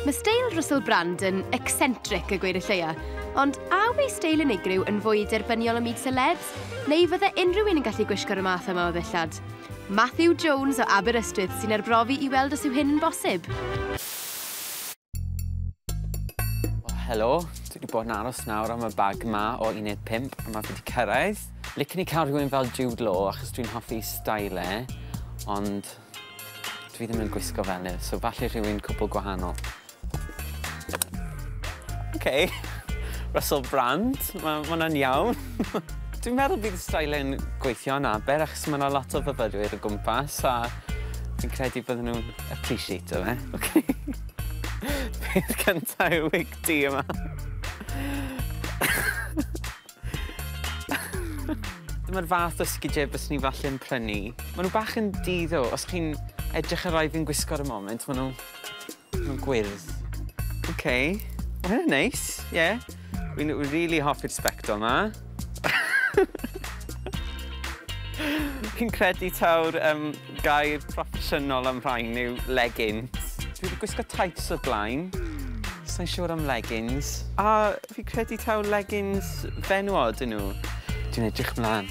Mae steil Russell Brand yn eccentric y gweir y lleia, ond a yw ei steil unigryw yn fwy derbyniol ym myd celebs, neu fydde unrhyw un yn gallu gwisgo'r y math yma o ddillad? Matthew Jones o Aberystwyth sy'n arbrofi i weld os yw hyn yn bosib. Helo, dwi wedi bod yn aros nawr am y bag ma o 15 a mae wedi cyrraedd. Licen i cael rhywun fel Jude Law achos dwi'n hoffi style e, ond dwi ddim yn gwisgo fel e, so falle rhywun cwbl gwahanol. OK, Russell Brand, mae hwnna'n iawn. dwi'n meddwl bydd y style e'n gweithio yna, ber achos mae yna lot o fyfyrwyr o gwmpas a Fi'n credu bydden nhw'n appreciato fe. Okay. Peth cynta yw wig ti yma. Dyma'r fath o sgidiau bys ni falle yn prynu. Maen nhw bach yn diddo. Os chi'n edrych ar rai fi'n gwisgo ar y moment, maen nhw Ma'n gwyrdd. Ok. Ma' hwnna'n neis, ie. Wi'n w- rili hoffi'r sbectol 'ma. Fi'n credu taw'r yym gair proffesiynol am rhain yw leggings. Dwi 'di gwisgo tights o'r blaen. Sai'n siŵr am leggings. A fi credu taw leggings fenywod 'yn nhw. Dwi'n edrych mlan.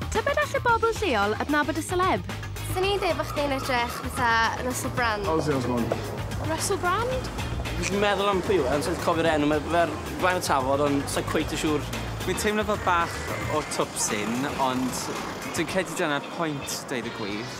Tybed all y bobl lleol adnabod y seleb? Swn i'n dweud bod chdi'n edrych fatha Russell Brand. Ozzy Osbourne. Russell Brand? Fi'n meddwl am pwy yw e, ond sa'n cofio'r enw, mae fe'r flaen y tafod, ond sa'n cweit y siŵr. Fi'n teimlo fel bach o twpsyn, ond dwi'n credu dyna'r pwynt, dweud y gwir.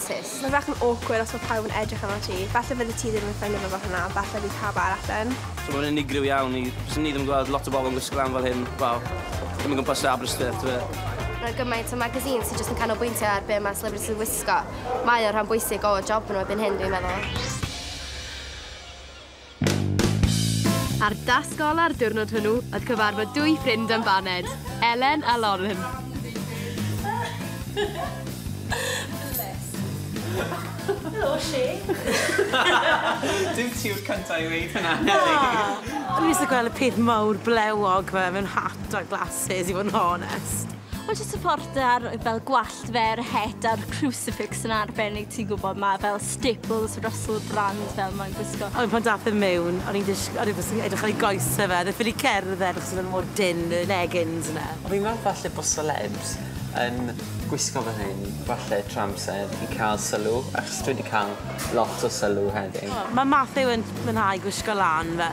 Sis. Mae bach yn awkward os mae pawb yn edrych arnot ti. Falle fyddet ti ddim yn ffindo fe fel hwnna, ond falle bydd pawb arall yn. So mae'n unigryw iawn i... Fyswn i ddim yn gweld lot o bobl yn gwisgo lan fel hyn, wel, ddim o gwmpas Sir Aberystwyth, tybed. Mae 'na gymaint o magazines sy jyst yn canolbwyntio ar be mae celebrities yn wisgo. Mae o'n rhan bwysig o job nhw erbyn hyn, dwi'n meddwl. A'r dasg ola'r diwrnod hwnnw oedd cyfarfod dwy ffrind am baned, Elen a Lauren. Helo, Lle. Dim ti yw'r cyntaf i weud hynna, Neli. O'n i jyst yn gweld y peth mawr blewog 'ma mewn hat a glasses i fod yn honest. Wel jyst y ffordd da'r fel gwallt fe a'r het a'r crucifix yn arbennig ti'n gwybod ma' fel staples Russell Brand fel mae'n gwisgo. Ond pan dath e mewn o'n i'n dish- o'n i jyst yn edrych ar ei goese fe o'dd e ffili cerdded achos o'dd e mor dynn y leggings yna. Wel fi'n meddwl falle bo' celebs yn gwisgo fel hyn falle trwy amser i ca'l sylw achos dwi 'di ca'l lot o sylw heddiw. O ma' Matthew yn mwynhau gwisgo lan fe.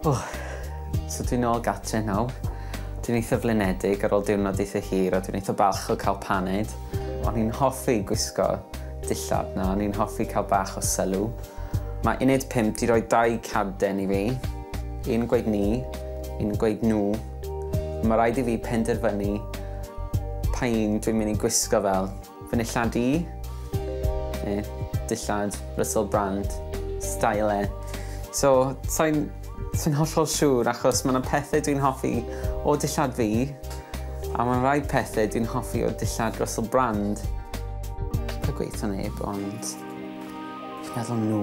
O, so dwi'n ôl gatre nawr. Dwi'n eitha flinedig ar ôl diwrnod eitha hir a dwi'n eitha balch o cael paned. O'n i'n hoffi gwisgo dillad na, o'n i'n hoffi cael bach o sylw. Mae Uned 5 di roi dau cadden i fi. Un gweud ni, un gweud nhw, Mae rhaid i fi penderfynu pa un dwi'n mynd i gwisgo fel fy nillad i, neu dillad Russell Brand, style e. So, sa'n sa hollol siŵr achos mae yna pethau dwi'n hoffi o dillad fi, a mae'n rhaid pethau dwi'n hoffi o dillad Russell Brand. Dwi'n gweithio neb, ond meddwl nhw.